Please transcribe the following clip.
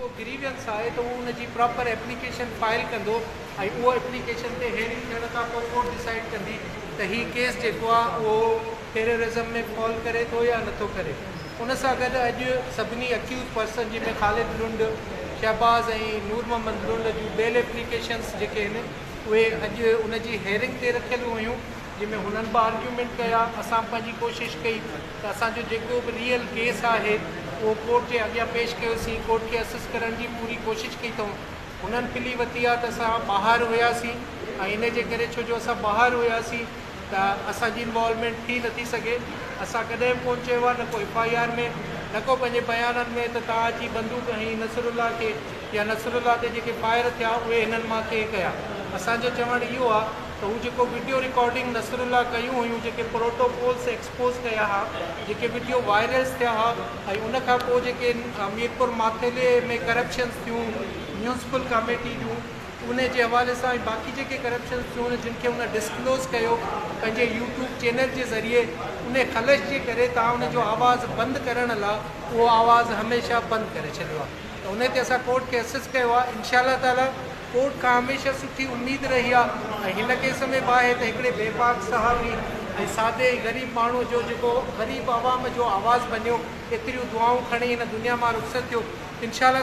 ڪو گريوينس آهي ته هو ان جي پراپر ايپليڪيشن فائل ڪندو ۽ اهو ايپليڪيشن تي هيئرنگ ٿيڻ کان پوء ڪورٽ ڊسائيڊ ڪندي ته هي ڪيس جيڪو آهي اهو ٽيررازم ۾ فال ڪري ٿو يا نٿو ڪري. ان سان گڏ اڄ سڀني اڪيوز پرسن جنهن ۾ خالد لنڊ، شهباز ۽ نور محمد لنڊ جون بيل ايپليڪيشنس جيڪي هن اهي اڄ ان جي هيئرنگ تي رکيل هيون جنهن ۾ هنن به آرگيومينٽ ڪيا، اسان به پنهنجي ڪوشش ڪئي. ته اسان جو جيڪو به ريئل ڪيس آهي اهو ڪورٽ جي اڳيان پيش ڪيوسين، ڪورٽ کي اسسٽ ڪرڻ جي پوري ڪوشش ڪئي اٿئون، هنن پلي وتي آهي ته اسان ٻاهر هياسين ۽ ان جي ڪري ڇو جو اسان ٻاهر هياسين ته اسان جي انوالومينٽ ٿي نٿي سگهي، اسان ڪڏهن به ڪونه چيو آهي نه ڪو ايف آء آر ۾ نه ڪو پنهنجي بيانن ۾ ته توهان اچي بندوق هنئي نصرالله کي يا نصرالله تي جيڪي فائر ٿيا اهي هنن مان ڪنهن ڪيا، اسان جو چوڻ اهو آهي ته هو جيڪو وڊيو رڪارڊنگ نصرالله ڪيون هيون جيڪي پروٽوڪولس پوسٽ ڪيا ها جيڪي وڊيو وائرلس ٿيا ها ۽ ان کان پوء جيڪي ميرپور ماٿيلي ۾ ڪرپشنس ٿيون ميونسپل ڪاميٽي جون انهي جي حوالي سان ۽ باقي جيڪي ڪرپشنس ٿيون آهن جن کي هن ڊسڪلوز ڪيو پنهنجي يوٽيوب چينل جي ذريعي انهي خلش جي ڪري تان ان جو آواز بند ڪرڻ لا اهو آواز هميشه بند ڪري ڇڏيو آهي ته انهي تي اسان ڪورٽ کي اسسٽ ڪيو آهي انشاء الله تعالي ڪورٽ کان هميشه سٺي اميد رهي آهي ۽ هن ڪيس ۾ به آهي ته هڪڙي بي باڪ صحافي ۽ سادي ۽ غريب ماڻهو جو جيڪو غريب عوام جو آواز بنيو ايتريون دعائون کڻي هن دنيا مان رخصت ٿيو انشاء الله